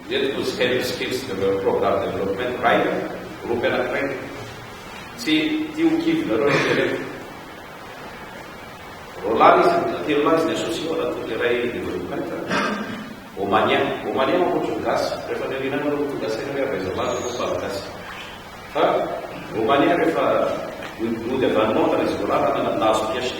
Ireto no Scale Skills Development Program Development Raider, gropy anankiray. Tsy tia ho kivinareo rehetra ireto. Roland izy, mbola telo lahy izy ny associé ao anatin'ilay iray development. Omanien, Omanien manko ohatran'ny gasy, rehefa ny aoriana nareo no tonga saina hoe avy aiza avy aza fa gasy. Fa Omanien rehefa nody avy any Londres izy Roland, nahazo PhD.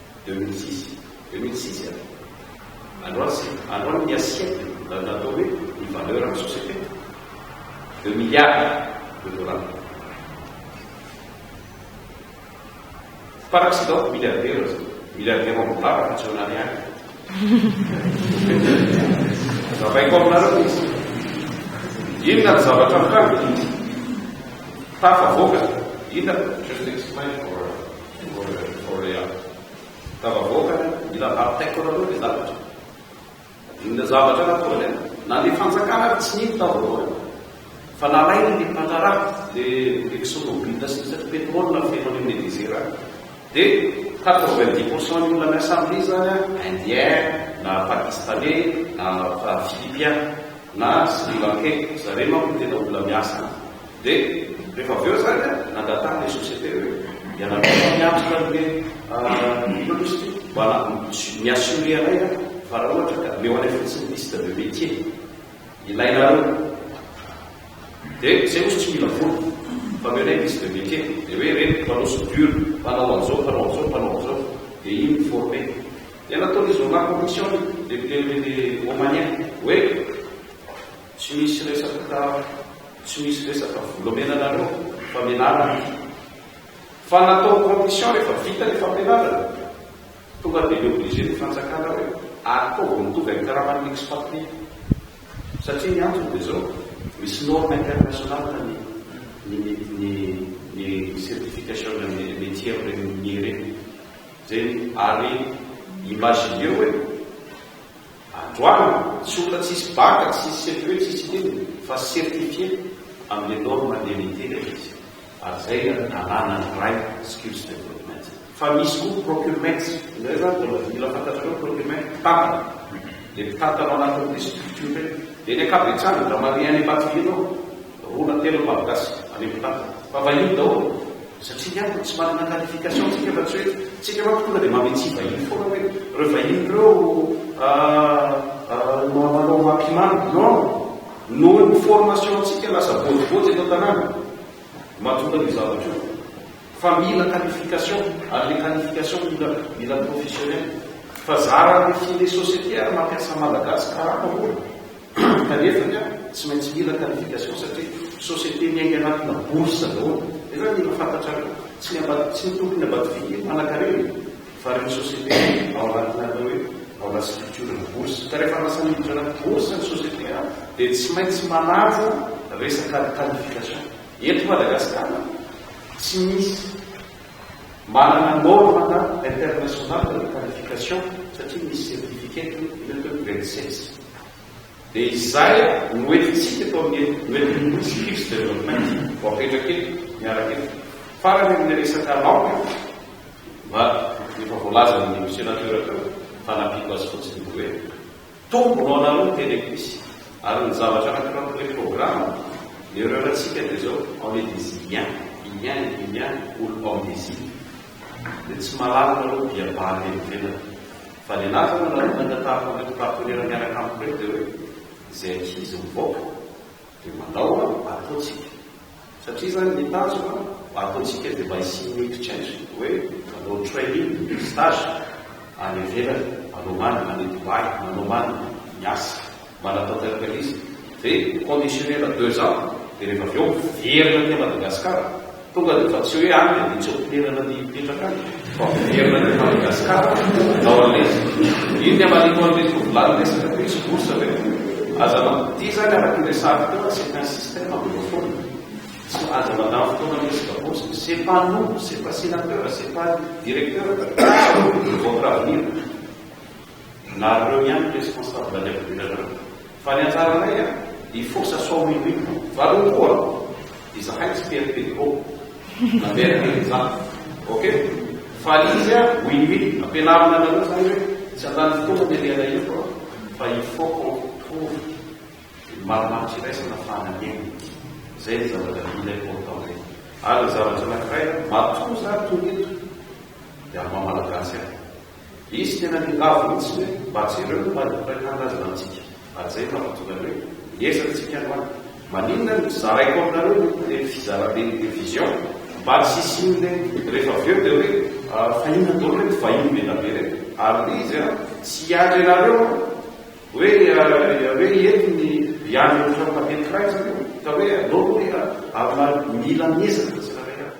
Deux mille six, deux mille six eh? Androany sy androany ny assiette na ny atao hoe ny valeur an'ny société. Deux milliards de dollars. Par accident, milliardaire zao. Milliardaire ao amin'ny vava fa tsy eo anariary. Zavaiko aminareo izy. Inona ny zavatra mitranga? Tafavoaka. Inona? Just explain for Korea. Ka vahoaka ny raharaha taiko nareo dia lavitra. Inona zavatra nataony an? Na ny fanjakana ary tsy nino tao voalohany. Fa nalainy ny mpandraharaha, ilay exxonmobil sy ny sisa pétrole nafeno any amin'ilay desert any. Dia quatre vingt dix pour cent ny olona miasa amin'iny izany an, indien, na pakistanais, na philippiens, na sri lankais. Zareo manko no tena olona miasa any. Dia rehefa avy eo izany an, nangataka ilay société hoe ianareo no miatrika an'ilay inona moa izy ity? Mba mi-assurer anay an, fa raha ohatra ka omeo anay fotsiny liste de métier ilainareo. Dia izay moa tsy mila vola, fa omeo anay liste de métier. Dia hoe ireny mpanao soudure, mpanao an'izao, mpanao an'izao, mpanao an'izao. Dia iny mi-former. Dia nataon'izy roalahy commission, le le le le Omanien, hoe. Tsy misy resaka tsy misy resaka vola omena anareo fa menarana io fa natao condition rehefa vita le fampianarana tonga de le obligé ny fanjakana hoe ary koa vao mitovy amin'ny karaman'ny expatrie satria ny antony de zao misy norme international ny ny ny ny certification ny metier amin'ireny minier ireny zay ary imagineo hoe Androany, tsy olona tsisy bac, tsisy cepe, tsisy inona, fa certifié amin'ilay norme DNIT ilay izy. Ary izay no nalana ny ray skills development. Fa misy koa procurement, izay izany mbola mila fantatrareo ny procurement, mpitantana. Ilay mpitantana ao anatin'ny district io indray. Dia ny ankabetsahany, dramariens any Imbatobe ireo. Roa na telo vavy gasy avy amin'ny tany fa vahiny daholo satria ny antony tsy manana qualification tsika fa tsy hoe tsika manko tonga dia mametsy vahiny foana hoe ireo vahiny ireo manao mampimamy non noho ny formation tsika lasa bojibojy eto an-tanàna mahatonga an'io zavatra io fa mila qualification ary le qualification mila mila professionnel fa zara amin'ny filet société ary mampiasa malagasy karama mora kanefa ka tsy maintsy mila qualification satria société miainga anatina bourse daholo nefa mila fantatrareo tsy ny ambad tsy ny tompony ambadividy mpanakarena e fa reo société ao anatina atao hoe ao anaty structure ny bourse ka rehefa lasa miditra anaty bourse ny société a dia tsy maintsy manaja resaka qualification eto Madagascar a tsy misy manana norme na international reo qualification satria misy certificat ny atao hoe grade six Dia izay no entintsika eto amin'ny Wedding Nosy Hills Development vao apetraka eto, miaraka eto. Farany amin'ny resaka laoka dia efa voalazan'ny Sénateur teo fa nampiako azy fotsiny ny hoe tombony ho anareo ny Tele-Quiz ary ny zavatra anankiray amin'ny reprogramme ny horaire ntsika dia izao on est des Iliens, Iliens, Iliens, olo mpaminizina. Dia tsy mahalala nareo dia bary evenana. Valelazana na olona niantaranao teto Partenera miaraka amiko reto dia hoe izay ankizy mivoaka dia mandao a, ataontsika. Satria izany ny tanjona mba ataontsika dia mba hisian'ny exchange, hoe manao training, stage, any ivelany, manao man any Dubai, manao man miasa. Manatanteraka ilay izy ve conditionné na deux ans dia rehefa avy eo miverina aty Madagascar? Tonga dia efa tsy hoe any dia tsy ampinerana ny hipetraka any fa miverina aty Madagascar na hoan'ilay izy? Io ny amarino an'ilay tovolahy niresaka teo hisy bourse ve? Aza mampidi izany araka ny resahako teo a c'est un système anglophone tsy aza mandany fotoana miresaka bourse c'est pas nous c'est pas sénateur c'est pas directeur votre avenir Nareo ihany ny responsable any avelany any. Fa ny anjaranay an, i Fosa sao minoino. Valio koa an! Izahay tsy tia Pedro na Bernie zany. Ok? Fa izy an, oui oui, ampianarina anareo zany hoe tsy handany fotoana ny alehanay eto an, fa il faut qu'on trouve ny marimaritra iraisana fa hanenina. Zay ny zavatra mila important eto. Ary ny zavatra anakiray an, matoa za tonga eto dia amin'ny maha-malagasy ahy. Izy tena niravo mihitsy hoe mba jereo ny marim-piray tanindrazana amintsika ary izay no nahatonga ny hoe miezaka isika androany. Maninona no tsy zaraiko aminareo ny ireny fizaran'ny télévision mba tsy hisian'ireny rehefa avy eo dia hoe fahina daholo ireto vahiny be dia be ireto ary ny izy an tsy hiandry anareo an hoe hoe ireto ny hiandry ny firam-pately firaisana io ka hoe aleo hoe ary mila miezaka tsirairay avy.